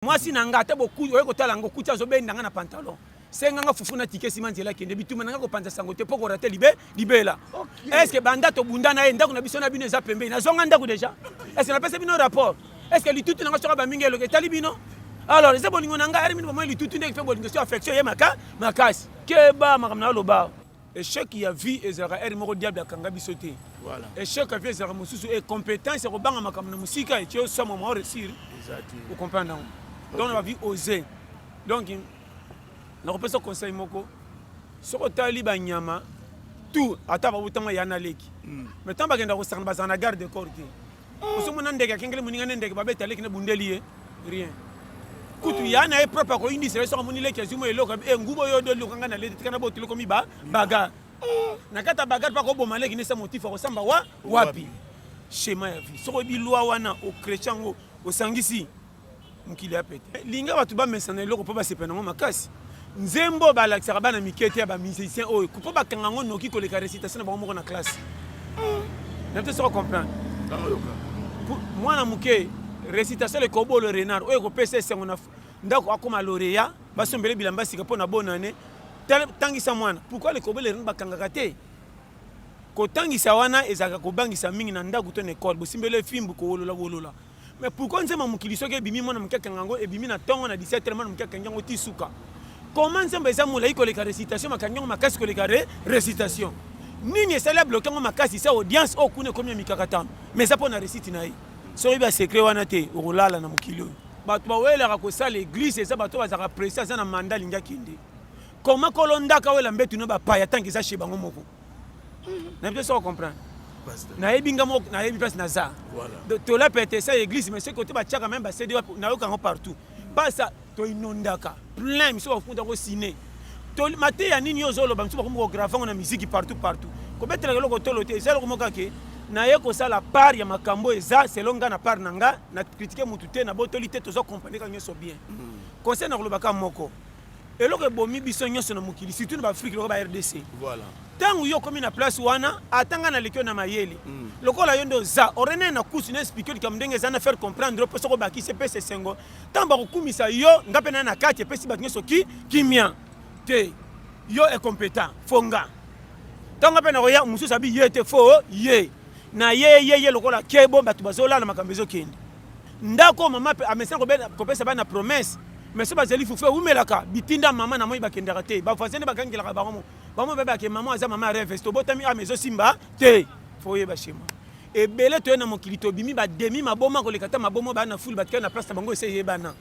mwasi na nga ata bokuti oye kotala yango okuti azobenda nga na pantalon senga nga fufu na tike nsima nzela akende bituma na nga kopanza sango te mpo korate libe libela estce banda tobunda na ye ndako na biso na bino eza pembeni nazonga ndako deja estce napesa bino rapport estce litutu na nga soka bamingi eloka etali bino alors eza bolingo na ngai arimini bomoi litutu ndenge mpe bolingo so affection ye maka makasi keba makambo na yo loba echec ya vie ezalaka heure moko diable akanga biso te voilà. echec ya vie ezalaka mosusu e compétence ya kobanga makambo na mosika etie osama mwa réussir okomprendre yango donc na bavie ose donc nakopesa conseil moko soki otali banyama tout ata babotama ya na leki hmm. mais ntango bakenda kosakana bazala na garde corps te ozomona ndeke akengeli moninga ne ndeke babeta leki na bundeli ye rien kutu ya na ye propre akoyindisa ye soki amoni leki azwi mo eloko e nguba oyo odo eloko ngai na leti tika na botuli komi ba baga na kati ya baga mpe akoboma leki nesa motifu akosamba wa wapi shema ya vie soki oyebi lwa wana okreche yango osangisi mokili ya pete linga bato bamesana eloko mpo basepela nango makasi nzembo balakisaka bana mike te ya bamusicien oyo mpo bakanga yango noki koleka récitation na bango moko na classe hmm. na biso soko comprendre mwana moke récitation le corbeau le renard oyo ekopesa esengo na ndako akoma lauréat basombele bilamba sika mpo na bonne année tangisa mwana pourquoi le corbeau le renard bakangaka te kotangisa wana ezalaka kobangisa mingi na ndako to na ekole bosimbeli efimbu kowolola wolola Mais pourquoi nzembo mokili soki ebimi mwana moke akanga yango ebimi na tongo na 17 heures mwana moke akangi yango ti suka comment nzembo eza molai koleka récitation makangi yango makasi koleka re récitation nini esali abloke yango makasi sa audience oyo kuna ekomi ya mikakatano mais eza mpo na récite na ye soki oyebi basekret wana te okolala na mokili oyo bato bawelaka kosala eglise eza bato oyo bazalaka presi aza na manda alingi akende koma kolondaka wela mbetu na bapaya ntango eza she bango moko na biso soko comprendre nayebi nga moko nayebi place naza tola pete sa église mais ce côté batiaka même ba CD wapi nayoka yango partout basa to inondaka plein miso bafuta ko ciné to mateya nini yo ozoloba miso bakomi kograve yango na miziki partout partout kobetelaka eloko tolo te eza eloko moko kake naye kosala part ya makambo eza selon nga na part na nga na kritike motu te na botoli te toza comprendre ka nyonso bien mm. conseil na kolobaka moko eloko ebomi biso nyonso na mokili surtout na baafrike lokola ba rdc voilà ntango yo okomi na place wana ata ngai naleki yo na mayele mm. lokola yo nde oza orene na kusu na explike likambo ndenge eza na faire comprendre mpo soki obakisi epesa esengo ntango bakokumisa yo nga mpe naye na kati epesi bato nyonso ki kimia te yo ekompetan fo nga ntango mpe nakoya mosusu abi ye te fo ye na ye ye ye lokola kebo bato bazolala makambo ezokende ndako mama amesana kopesa bana promesse mais so bazali fufu eumelaka bitinda mama na moi bakendaka te bavoisin nde bakangelaka bango bango babake mama aza mama ya reves tobotami ama ah, ezosimba te fo oyeba shema ebele toye na mokili tobimi bademi maboma koleka ata maboma bana fulu batikali na place na bango esi eyebana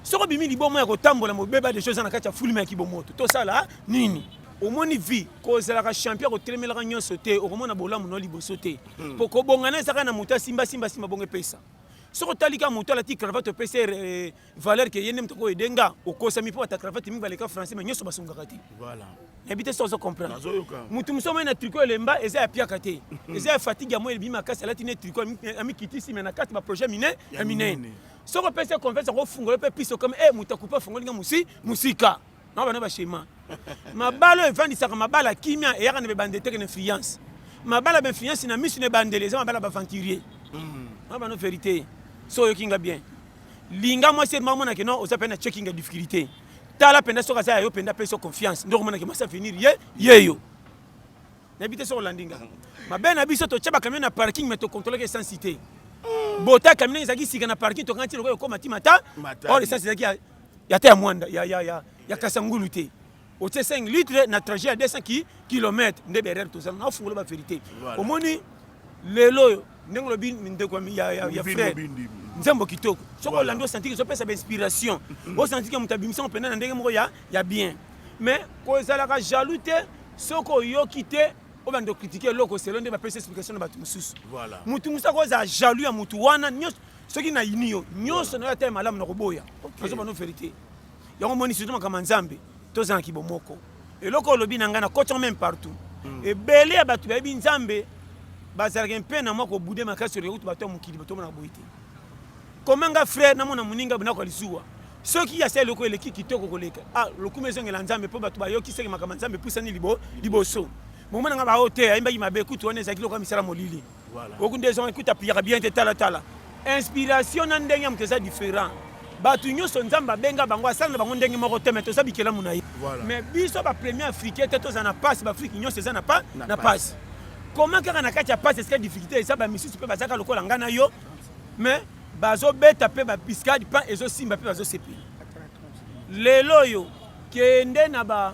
soki obimi liboma ya kotambola mobeba deja eza na kati ya fulme ya kibomoto tosala ah, nini omoni vie kozalaka champion kotelemelaka nyonso te okomona bolamu no liboso te hmm. po kobongana ezaka na moto asimba simba simba bongo epesa soki otali kaka moto alati cravate opesi eh, eh, valeur ke ye nde moto ako ede nga okosami mpo bata cravate mingi baleka français mais nyonso basungaka te nayebi te so ozo comprendre moto mosusu amai na tricot elemba eza ya piaka te hmm. eza ya fatigue ya moi elebimi makasi alati ne tricot amikitisi me na kati baprojet mine ya minene soki opesi confiance akofungola mpe piso kama e eh, moto akupe afongoli nga mosi mosika na bana ba shema mabala oyo efandisaka mabala kimia eyaka na bebande teke na influence mabala ba influence na misu na ebandeli eza mabala baventurier hmm. na bana verité so oyoki nga bien linga mwasi ete mamonake no oza mpe na checking ya difficulté tala mpenza soki aza ya yo mpenza apesi yo confiance nde okomonake mwasi avenir ye yeyo nayebi te soki olandi nga mabe na biso totya bakamio na parking me tocontrolaka essence te bota camion ezalaki sika na parking tokanga ntina lokola ekoma ti mata or essence ezalaki ya te ya mwanda ya, ya, ya, ya kasangulu te otie 5 litre na trajet ya 200 ki, kilomètre nde berere tozala na ofungola baverité voilà. omoni lelo oyo ndenge olobi ndeko ya, ya, ya frère nzembo kitoko soki olandi osantiki ezopesa bainspiration mm. osantiki moto abimisango mpenza na ndenge moko ya, ya bien mais kozalaka jaloux te soki oyoki te obanda okritike eloko selo nde bapesi explication na bato mosusu moto mosusu akozala jaloux ya motu wana nyonso soki nayini yo nyonso na yo ata ya malamu na koboya nazoba no verité yango moni surtout makambo ya nzambe toza na kibomoko eloko olobi na ngai na koti meme partout hmm. ebele ya bato bayebi nzambe bazalaka mpe na mwa kobude makasi oleka kutu bato ya mokili batomonaka boye te koma nga frère namona moninga bonako ya lizuwa soki asali eloko eleki kitoko koleka ah, lokumu ezongela nzambe mpo bato bayoki seke makambo ya nzambe epusani liboso bomona nga baoyo te ayembaki mabe kutu wana ezalaki lokola misala molili oku nde ezonga ekuta piyaka bien te tala tala inspiration na ndenge ya moto eza différent bato nyonso nzambe abenga bango asala na bango ndenge moko te me toza bikelamu na ye mais biso bapremier africain te toza na pasi baafrike nyonso eza na pasi koma kaka na kati ya pasi esika difficulté eza bamisusu mpe bazaka lokola ngai na yo mais bazobeta mpe bapiskade mpe ezosimba mpe bazosepela lelo oyo kende na ba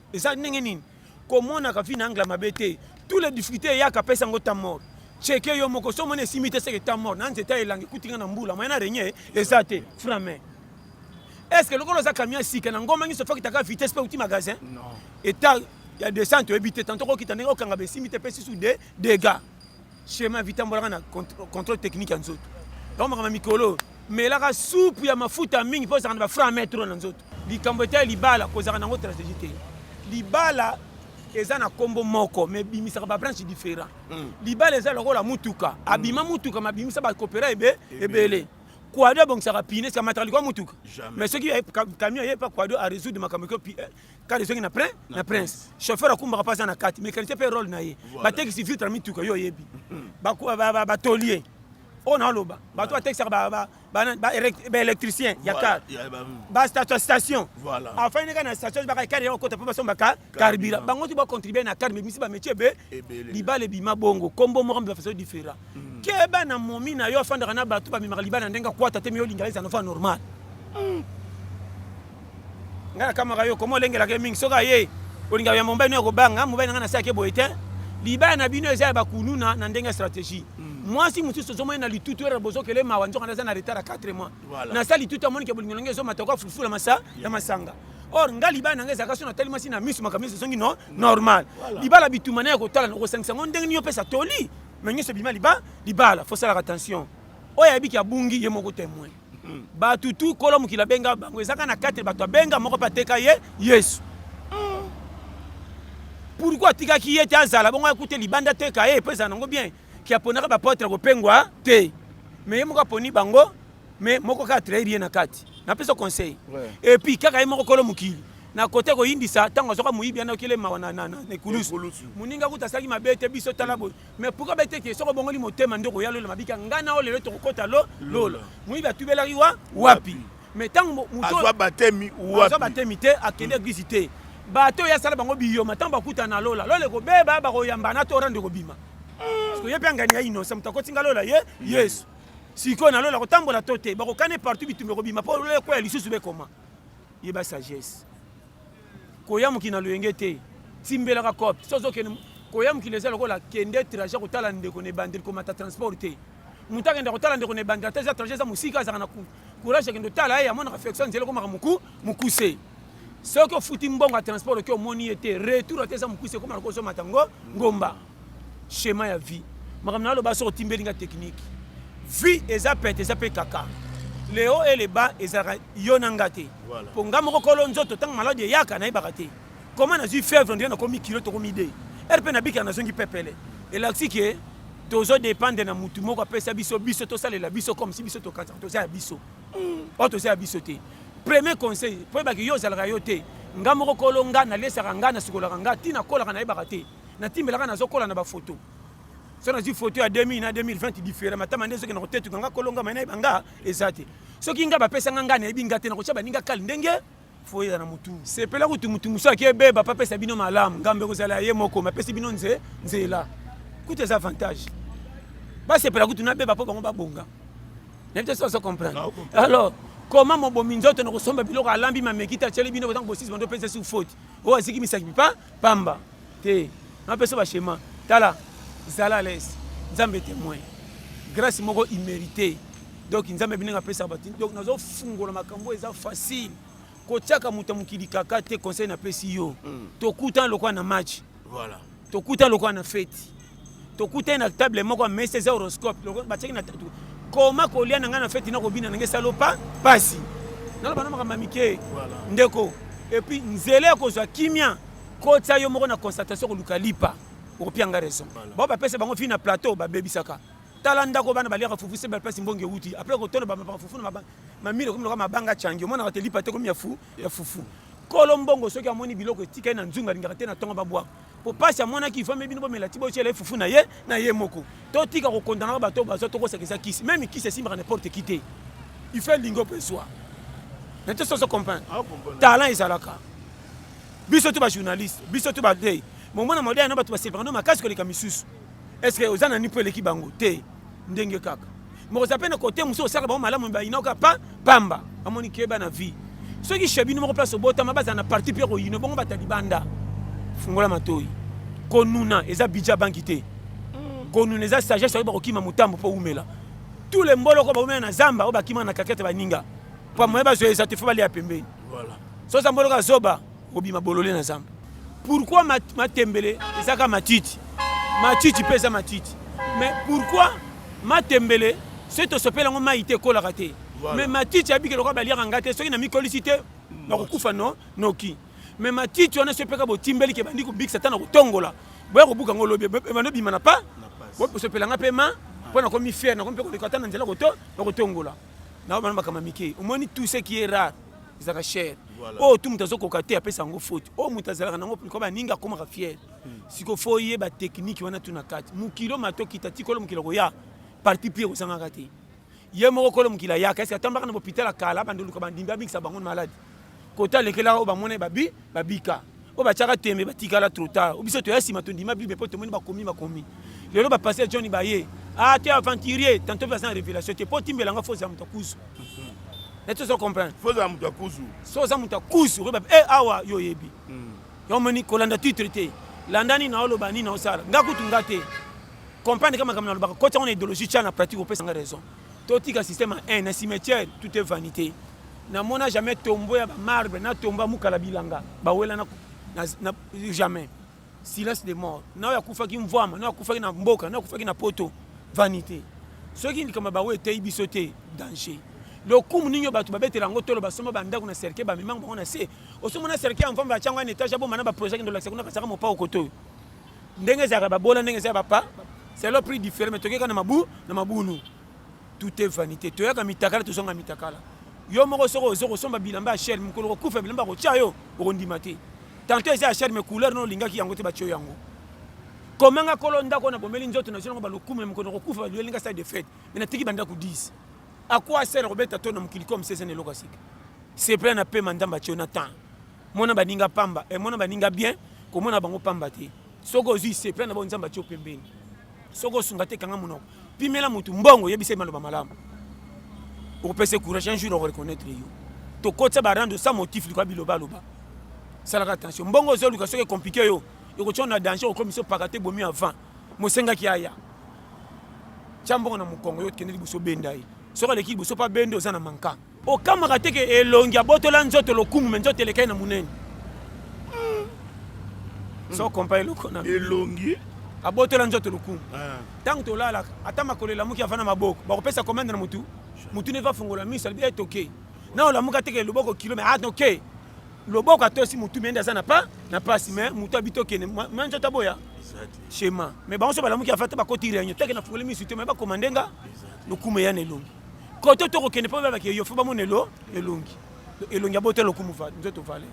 eza ndenge nini komonaka vie na angla mabe te tous les difficultés eyaka apesa yango ta mort cheke yo moko so omoni esimi te seke ta mort na nzete ya elangi ekutinga na mbula moyen na regne eza te frame est ce que lokola oza camion ya sika na ngomba nyonso fakitaka vitesse mpe outi magasin eta ya descente oyebi te tanto kokita ndenge okanga besimi te mpe susu de dégâts Shema vitambolaka na contrôle technique ya nzoto. Yango makambo mikolo melaka supu ya mafuta mingi mpo ozalaka na bafra metro na nzoto. Likambo etali libala kozalaka nango stratégie te. Libala eza na kombo moko mais ebimisaka ba branche différent. Mm. Libala eza lokola mutuka, abima hmm. mutuka mabimisa ba coopera ebe ebele. Kwado abongisaka pine sika mataka likwa mutuka. Mais soki camion yepa Kwado a résoudre makambo ko kar ezongi na prin na prince chauffeur akumbaka mpe aza na kati mécanicien mpe role na ye batekisi vitre mituka yo oyebi batolier oyo naoloba bato batekisaka baélectricien ya kar bastation afani kaka na station baka kar yango kota mpo basombaka carburant bango ti bacontribue na kar mebimisi bamétier ebe libala ebima bongo kombo moko mpe bafaso différent keba na momi na yo afandaka na bato bamemaka libala ndenge akwata te miyo linga ezana fa normal hmm. ngai nakamaka yo koma olengelaka ye mingi soki aye olingaka ya mobali no ya kobanga mobali na ngai nasi ake boye te libala na bino eza ya bakuluna na ndenge ya stratégie hmm. mwasi mosusu ozomoni na litutu ere bozokele mawa nzoka naza na retard ya 4 mois nasala litutu amonike bolingo nange ezomata kwa fulufula masa ya masanga or nga libala nanga ezalaka so natali mwasi na miso makambo miso ezongi no normal libala bituma na ya kotala na kosangisa ngo ndenge nini opesa toli mais nyonso ebima liba libala faut salaka attention oyo ayebi ki abungi ye moko temoin hmm. bato tu kolo mokili abenga bango ezaka na katre bato abenga moko mpe ateka ye yesu hmm. pourkui atikaki ye te azala bongo akute libanda ateka ye mpo ezala nango bien ki aponaka bapotre kopengwa te mais ye moko aponi bango mais moko kaka trahir ye na kati napesa conseil et puis kaka ye moko kolo mokili na kote koyindisa ntango azwaka moyibi ana okele mawa na ekulusu moninga kuta asalaki mabe te biso tala boye mais pourkua be teke soki obongoli motema nde okoya lola mabika ngai na oyo lelo tokokota lo lola moyibi atubelaki wa wapi mais ntango motoazwa batemi wapi batemi te akende hmm. eglise te bato oyo asala bango biyoma ntango bakuta na lola lola ekobeba bakoyambana to orande ekobima hmm. ye mpe angani ya innocent moto akotinga lola ye yesu sikoyo na lola kotambola to te bakokane partout bitumba ekobima mpo lola ekoya lisusu bekoma yeba sagesse koya mokili na loyenge te timbelaka cope so ozokende koya mokili eza lokola kende trajet kotala ndeko na ebandeli komata transport te moto akenda kotala ndeko na ebandeli ata eza trajet eza mosika azalaka na courage akende otala ye amonaka flexion nzela ekomaka moku mokuse soki ofuti mbongo ya transport oke omoni ye te retour ata eza mokuse ekomaka kozomata ngo ngomba schéma ya vie makambo naloba soki otimbeli nga technique vie eza pete eza mpe kaka le haut et le bas ezalaka yo na nga te Voilà. mpo nga moko kolo nzoto ntango maladi eyaka nayebaka te koma nazwi fevre ndio nakomi kilo tokomi de ere mpe nabikaka nazongi pepele elakisi ke tozo dependre na mutu moko apesa biso biso tosalela biso comme si biso tokanisa toza ya biso oyo toza ya biso te premier conseil mpo oyebaki yo ozalaka yo te nga moko kolo nga nalesaka nga nasukolaka nga ti nakolaka nayebaka te na timbela kana zo kola na ba photo so na zi photo ya 2000 na 2020 différent matama nde soki na kotetu kanga kolonga mai na banga ezate soki nga ba pesa nga nga na ebinga te na kocha baninga kali ndenge foyela na mutu sepela kutu mutu musa ke beba pa pesa bino malam ngambe kozala ye moko ma pesi bino nze nzela kutu eza avantage ba sepela kutu na beba po bango ba bonga na bito so so comprendre alors koma mobomi nzoto na kosomba biloko alambi mameki te atyeli bino kozanga bosisi bando mpenza sur faute oyo aziki misakipi pa Pamba te na pesa ba shema tala zala les nzambe temoin grace moko immerite donc nzambe bininga pesa ba donc nazo fungola makambo eza facile kotiaka moto ya mokili kaka te conseil na pesi yo mm. tokuta lokola na match voilà tokuta lokola na feti tokutani na table moko ya mesa eza horoscope batiaki na tatu koma kolia na ngai na feti nakobina na ngai salopa mpasi naloba na makambo ya mike ndeko epuis nzela ya kozwa kimia kotya yo moko na constatation koluka lipa okopia ngai raison bao bapesa bango fii na plateau babebisaka tala ndako bana baliaka fufu se bapesi mbongo euti apres kotono bamapaka fufu na mamile okomi loka mabanga cangi omonaka te lipa te komi ya fufu kolo mbongo soki amoni biloko etikali na nzunga alingaka te na ntongo babwaka po pasi amonaki ifame bino bomela ti botyela ye fufu na ye na ye moko totika kokondanaka bato oyo bazwa tokosaka eza kisi meme kisi esimbaka n'importe ki te ife elingi ope ezwa na te soso comprendre ah, talent ezalaka biso to bajournaliste biso to badei momona maudai na bato basepaka ndo makasi koleka misusu est ce que oza na ni mpo eleki bango te ndenge kaka mokoza mpe na kote mosusu osalaka bango malamu bayinoka pa pamba bamoni keba na vie soki shebini moko place obotama bazala na parti mpe koyino bongo bata libanda fungola matoi konuna eza bidja banki te mm. konuna eza sagesse oyo bakokima motambo mpo oumela tous les mboloko baumela na zamba oyo bakima na kakete baninga mpo moye bazoyeza te fo balia pembeni soza mboloko azoba Kobima bolole na zamba. Pourquoi matembele ezaka matiti? Matiti pe eza matiti. Mais pourquoi matembele soki tosopeli yango mai te ekolaka te voilà. mais matiti abiki lokola baliaka ngai te soki namikolisi te nakokufa no noki mais matiti wana soki mpeka botimbeli ke bandi kobikisa ata na kotongola boya kobuka yango lobi ebanda obima na pa bosopela ngai mpe ma mpo nakomi fiere nakomi mpe koleka ata na nzela koto na kotongola naomana makambo mike omoni tout ce qui est rare ezalaka chere oyo tu moto azokoka te apesa yango faute oyo moto azalaka nango mpo baningi akomaka fiere hmm. siko fo oyeba teknike wana tu na kati mokili matokita tikolo mokili akoya parti pire kozangaka te ye moko kolo mokili ayaka esi atambaka na bopital ya kala bandoluka bandimbi abikisa bango na maladi kota alekelaka oyo bamona ye babi babika oyo batiaka tembe batikala trop tard biso toya nsima tondima bible mpo tomoni bakomi bakomi lelo bapaster john baye ah te aventurier tanto baza na révélation te mpo timbela nga foza moto akuzu neti ozo comprendre foza moto akuzu so oza moto akuzu okoyeba e awa yo oyebi hmm. yo omoni kolanda titre te landa nini naoloba nini naosala nga kutu nga te comprendre ka makambo nalobaka koti yango na idéologie tya na pratique opesa nga raison Totika système ya haine na cimetière tout est vanité. Namona jamais tombeau ya ba marbre na tombeau ya mukala bilanga bawela na, na, na jamais silence de mort nayo akufaki mvwama nayo akufaki na mboka nayo akufaki na poto vanité soki likambo ya bango eteyi biso te danger lokumu nini oyo bato babetela yango tolo basomba bandako na cercueil bamemango bango na se osomona cercueil ya mvwama batyango ya na etage abomana baprojaki ndolakisa kuna kasaka mopao kotoyo ndenge ezalaka babola ndenge eza ya bapa selo prix différent mais tokeka na mabu na mabunu tout est vanité toyaka mitakala tozonga mitakala yo moko soko ozo kosomba bilamba ya shel mokolo kokufa bilamba kotya yo okondima te tanto eza ya shel mais couleur no olingaki yango te batyo yango komanga kolo ndako na bomeli nzoto na zonango balokumu na mokolo kokufa baluelinga sale de fete mais natiki bandako 10 akwa sel kobeta to na mokili comme sesene eloko asika sepela na pema ndambe atyo na temps mona baninga pamba eh, mona baninga bien komona bango pamba te soki ozwi se plan na bango nzambe atio pembeni soki osunga te kanga monoko pimela motu mbongo yebisa ye maloba malamu okopesa courage un jour okoreconnaitre yo tokotisa barando sa motif likoya bilobaloba salaka attention mbongo ozoluka soki ekomplike yo ekotia na danger okomisa opaka te bomi avant mosengaki aya tya mbongo na mokongo yo okende liboso benda ye soki aleki liboso mpe abende oza na mankanga Okamaka te ke elongi abotola nzoto lokumu me nzoto elekaki na munene. Hmm. So kompa eloko na elongi abotola nzoto lokumu. Tango tolalaka ata makolo elamuki avana maboko bakopesa komende na mutu mutu ne va fongola miso alibi etoke. Eh, na olamuka te ke loboko kilo me atoke. Ah, loboko atosi mutu mende aza na pa na pasi me mutu abitokene ma nzoto aboya shema me bango so balamuki afata bakoti reunion toke na fungoli miso te me bakomandenga lokumu eya na elongi koto to kokende mpo baba ke yo fo bamona elo elongi elongi ya boto lokumu va nzoto vale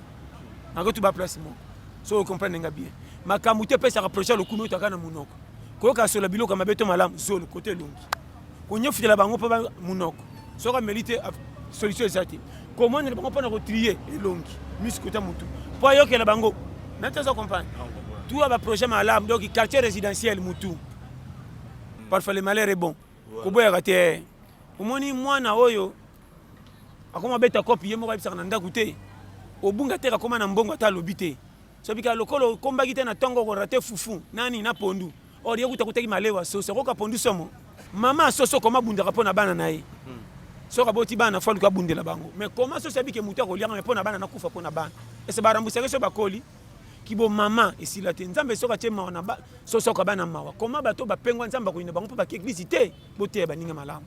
nako tuba place moko so okomprendre nga bien makambo te epesaka projet ya lokumu otaka na monoko koyoka sola biloko ya mabe to malamu zolo koto elongi konyefutela bango mpo monoko soki ameli te solution eza te komonela bango mpo na kotrie elongi misi kota motu mpo ayokela bango nati aza comprendre tuya baprojet malamu donc quartier résidentiel motu parfois le malheur est bon koboyaka te eh. omoni mwana oyo akoma beta kopi ye moko ayebisaka na ndako te obunga te kakoma na mbongo ata alobi te sobika lokola okombaki te na ntongo okorate fufu nani na pondu or ye kuta kutaki malewa soso okoka pondu somo mama asoso koma abundaka mpo na bana na ye hmm. soki aboti bana fo aluka abundela bango mais koma soso abike motu akoliaka me mpo na bana nakufa mpo na bana ese barambusake so bakoli kibo mama esila te nzambe soki atie mawa na ba soki soki abana mawa koma bato bapengwa nzambe akoyina bango mpo baki eglise te boteya baninga malamu